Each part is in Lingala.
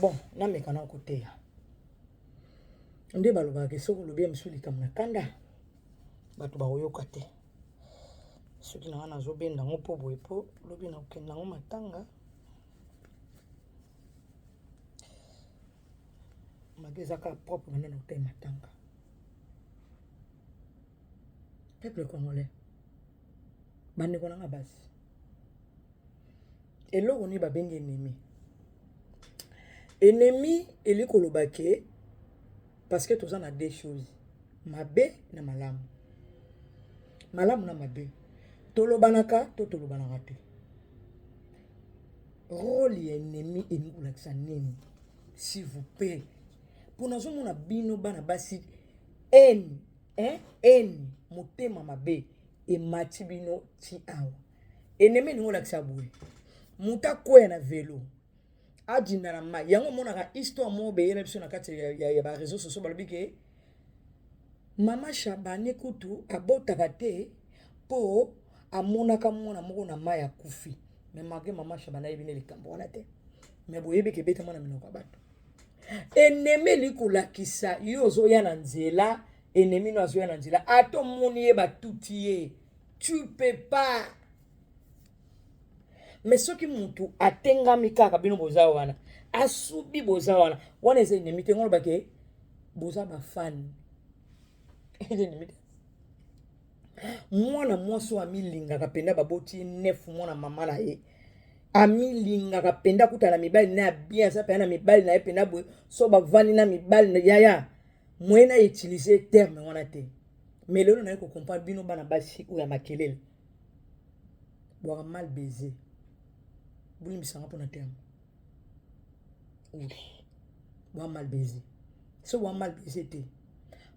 bon nameka na koteya nde balobaka ke soki olobi ya mosusu likambo na kanda bato bakoyoka te soki na nga nazobenda yango mpo boye mpo lobi na kokende yango matanga mage eza kaka propre banda na kotai matanga peuple congolais bandeko na nga basi eloko nini babengi ennemi ennemi eli koloba ke parce que toza na deux choses mabe na malamu malamu na mabe tolobanaka to tolobanaka te role ya ennemi elingi kolakisa nini s'il vous plaît mpo nazomona bino bana basi ene ene motema mabe emati bino ti awa enemi elingi olakisa boye moto akwea na velo adinda na mai yango omonaka histoire moko beyela biso na kati ya, ya, ya bareseau sociaux balobi ke mama shabane kutu abotaka te mpo amonaka mwana moko na mai akufi me malgre mama shabane ayebi nde likambo wana te me boyebi ke ebetama na minoko ya bato enemi elingi kolakisa yo ozoya na nzela enemi no azoya na nzela ata omoni ye batuti ye tu peux pas mais soki mutu atengami kaka bino boza wana asubi boza wana wana eza enemi te ngoloba ke boza bafani eza enemi te mwana mwasi oyo amilingaka mpenza baboti ye nefu mwana mama na ye amilingaka mpenza kuta na mibali na ya bien aza mpenza na mibali na ye mpenza boye so bavandi na mibali yaya moye na utilize terme wana te Mais lelo naye ko comprendre bino bana basi oyo ya makelele. Bwaka mal baiser. Bolimbisa nga pona terme. Oui. Bwa mal baiser. So bwa mal baiser te.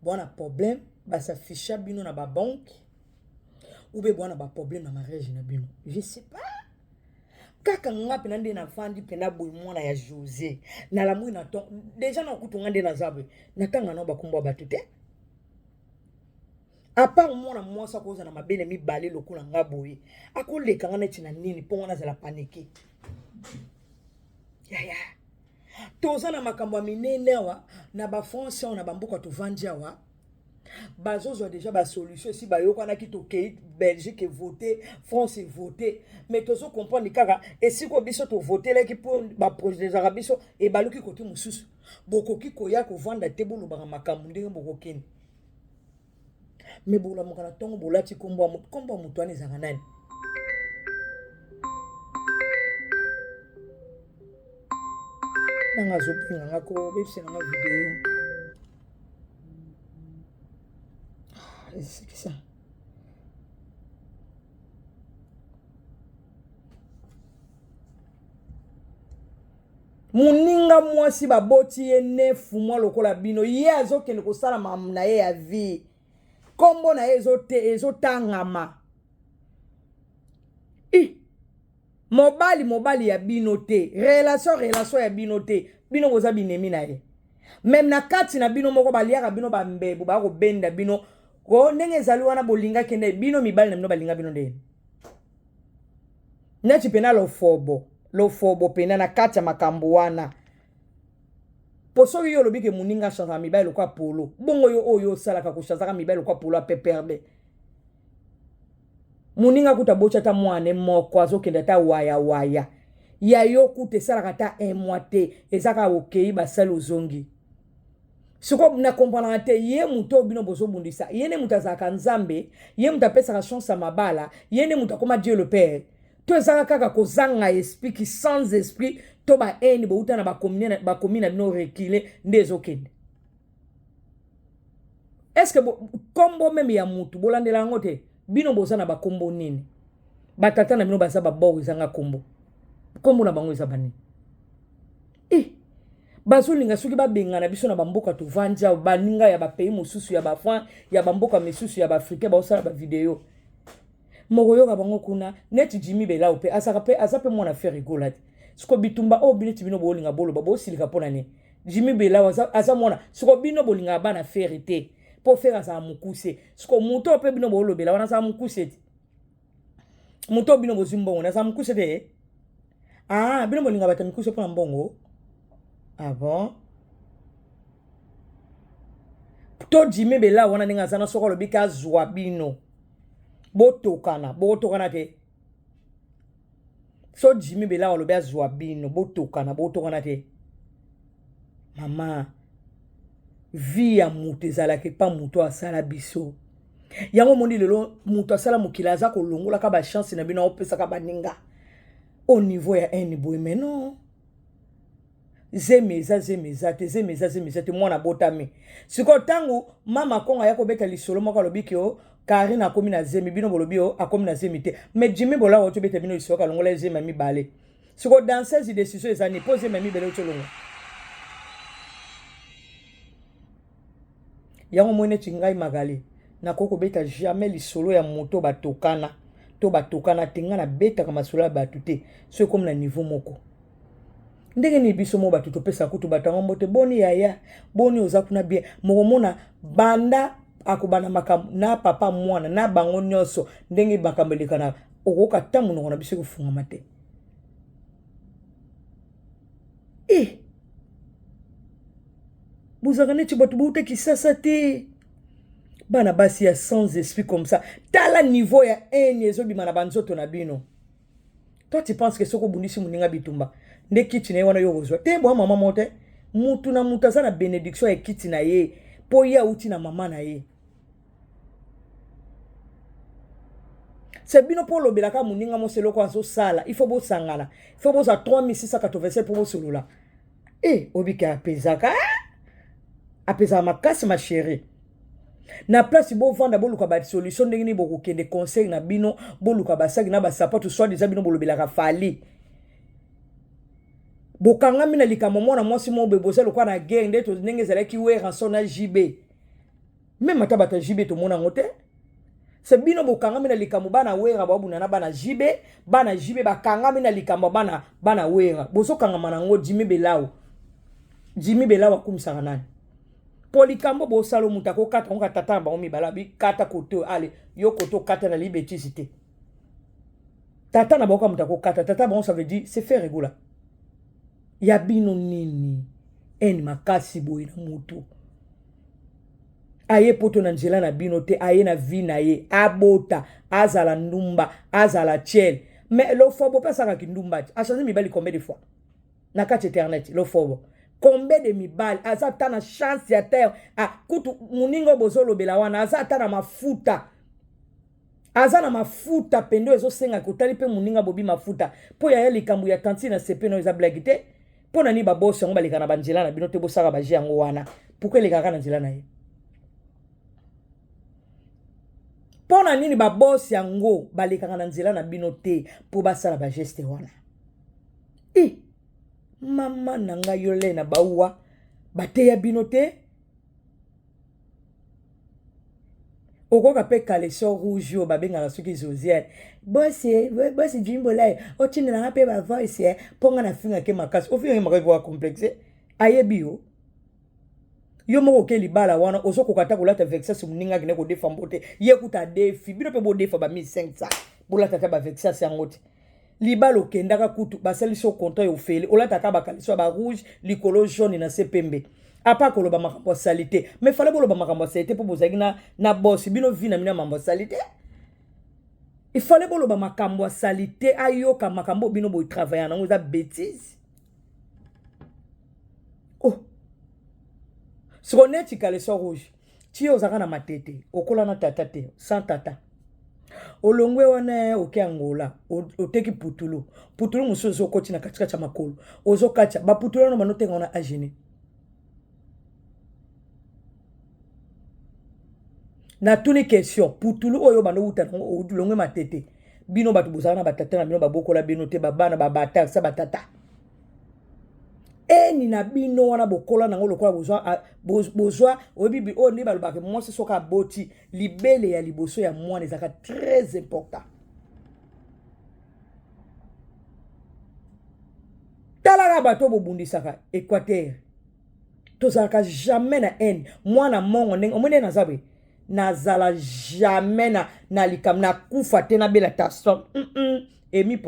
Bwa na problème ba s'afficha bino na ba banque ou bien bwa na ba problème na mariage na bino. Je sais pas. kaka nga mpena nde nafandi mpena boye mwana ya josé nalamwi na to deja na kutu nga nde naza boye natanga nao bakombo ya bato te Apart mwana mwasi akozala mabe na mibale lokola nga boye, akoleka nga neti na nini mpo nga nazala panike? Yaya, toza na makambo ya minene awa na ba France awa na bamboka tovandi awa bazozwa deja basolution esi bayokanaki tokei belgique evote france evote mais tozo comprendre kaka esiko biso tovotelaki mpo baprojezaka biso ebaluki kote mosusu bokoki koya kovanda te bolobaka makambo ndenge bokokende me bolamuka na ntongo bolati nkombo ya moto nkombo ya moto wana ezalaka nani nanga azobenga nga ko bebisa nanga video ah, esekisa Moninga mwasi baboti ye ne fumwa lokola bino, ye azokende kosala mamu na ye ya vie, kombo na ye ezotangama i mobali mobali ya bino te, relation relation ya bino te, bino boza binemi na ye meme na kati na bino moko baliaka bino bambebu bakobenda bino ko ndenge ezali wana bolingaki nde bino mibali na bino balinga bino nde neti pena lofobo lofobo pena na kati ya makambo wana po soki yo olobi ke moninga achanzaka mibali lokola polo bongo yo oyo osalaka kochanzaka mibali lokola polo apeperde moninga kuta botya ata mwana moko azokende ata waya waya ya yo kuta esalaka ata un mois te ezaka okei basali ozongi siko na comprenaka te ye moto oyo bino bozobundisa ye nde moto azalaka nzambe ye moto apesaka chance ya mabala ye nde moto akoma dieu le père to ezaka kaka kozanga esprit ki sans esprit to bahaine bouta na bakomi na bino recule nde ezokende estce kombo meme ya motu bolandela yango te bino boza na bakombo nini batata na bino baza babor ezanga kombo kombo na bango eza banini Eh, bazolinga soki babengana biso na bamboka tovandi awa baninga ya bapays mosusu ya bafran ya bamboka misusu ya baafricain baosala bavideo mokoyoka bango kuna neti jimi belao mpe azaka mpe aza mpe mwana fere egola te siko bitumba oyo bineti bino bolinga boloba bosilika mpo na nini jimi belao aza, aza mwana siko bino bolingaka bana fere te mpo fere azala mokuse siko moto oyo mpe bino bolobela wana azala mokuse te moto bino bozwi mbongo naza mokuse te ah bino bolinga bato ya mikuse mpo na mbongo ah bon to jime bela wana ndenge aza na soko alobi ke azwa bino botokana botokana te so jimi belawa alobi azwa bino botokana botokana te mama vi ya moto ezalaka epa moto asala biso yango omoni lelo moto asala mokili aza kolongolaka bachanse na bino aopesaka baninga au niveau ya haine boye mais non zemi eza zemi eza te zemi eza zemi eza te mwana abotami sikoyo ntango mama kongo aya kobeta lisolo moko alobi ke o karine akomi na zemi bino bolobi o akomi na zemi te mais jimi bolako oti obeta bino lisolo kalongola zemi ya mibale sikoyo danseuse decision eza nini mpo zemi ya mibale oti olongola yango moi neti ngai magale nakoki kobeta jamais lisolo ya moto batokana to batokana te ngai nabetaka masolo ya bato te so ekomi na niveau moko ndenge nini biso mo bato topesa kutu bato yango mbote boni yaya boni oza kuna bien mokomona banda akobanda makambo na papa mwana na bango nyonso ndenge makambo elekanaka okoyoka ta monoko na biso ekofungama te e eh! bozalaka neti bato bouta kisasa te bana basi ya sans esprit comme ça tala niveau ya haine ezobima na banzoto na bino toi tu penses que soki obundisi moninga bitumba nde kiti na ye wana yo okozwa te bwa mama moko te motu na motu aza na benediction ya kiti na ye mpo ye awuti na mama na ye se bino mpo olobelaka moninga mosi eloko azosala il faut bosangana il faut bozwa 3687 mpo bosolola e eh, obike apezaka apezaka makasi ma chérie na place bovanda boluka basolution ndenge nini bokokende conseil na bino boluka basaki na basapato soit deja bino bolobelaka fali bokangami na likambo mwana mwasi mobe boza lokola na guerre nde ndenge ezalaki weranson na jb meme ata bato ya jibe tomona yango te se bino bokangami na likambo bana wera babunda na bana jibe bana jibe bakangami na likambo bana bana wera bozokangama na yango jimi belawo jimi belawo akumisaka nani mpo likambo bosalo moto akokata yango katata na bango mibala bikata kote oyo ale yo kote okata na libetisi te tata na bango ka moto akokata tata bango ça veut dire se faire egola ya bino nini ene makasi boye na motu aye poto na nzela na bino te aye na vi na ye abota azala ndumba azala tiele mais lofobo mpe asaka kindumba ti achange mibali combien de fois na kati internet lofobo combien de mibali aza ata na chance ya terre ah, kutu moninga oyo bozolobela wana aza ata na mafuta aza na mafuta pendo ezosenga kotali mpe moninga bobi mafuta mpo yaya likambo ya tantine na sepe no eza blagi te mpo na nini babosi yango baleka na banzela na bino te bosaka baje yango wana pourkui elekaka na nzela na ye mpo na nini babosi yango balekaka na nzela na bino te mpo basala bageste wana i mama na ngai yo lei na bauwa bateya bino te okoka mpe caleçon rouge oyo babengaka soki josiane bosi bosi jimbolaye otindela nga mpe bavoice eh, mpo nga nafingake makasi ofingake makasi mpo complexe ayebi yo yo moko oke libala wana ozokoka ata kolata vexas moninga akende kodefa mbo te ye kuta adefi bino mpe bodefa ba 1500 bolata ata bavexas yango te libala okendaka kutu basalisi yo contrat ya ofele olataka bakalisi ya ba rouge likolo jaune na se pembe apa koloba makambo ya salite mais fale boloba makambo ya salite mpo bozalaki na, na bosi bino vi na bino ya mambo ya salite ifale boloba makambo ya salite ayoka makambo oyo bino botravaille nango eza betise oh siko neti kalesio rouge ti yo ozalaka na matete okola na tata te sans tata olongwe wana eh, oke angola oteki putulu putulu mosusu ozokoti na katikati ya makolo ozokatya baputulu wana banotenga wana agene natuni question putulu oyo bando wuta nango olongwe matete bino bato bozala na batata na bino babokola bino te babana babata sa batata eni na bino wana bokola nango lokola bozwa bozwa oyebi oyo nde balobaka mwasi soki aboti libele ya liboso ya mwana ezalaka très important talaka bato bobundisaka équateur tozalaka jamais na haine mwana mongo ndenge omoni naza boye nazala jamais na, na likambo nakufa te nabela ta som mm -mm. emi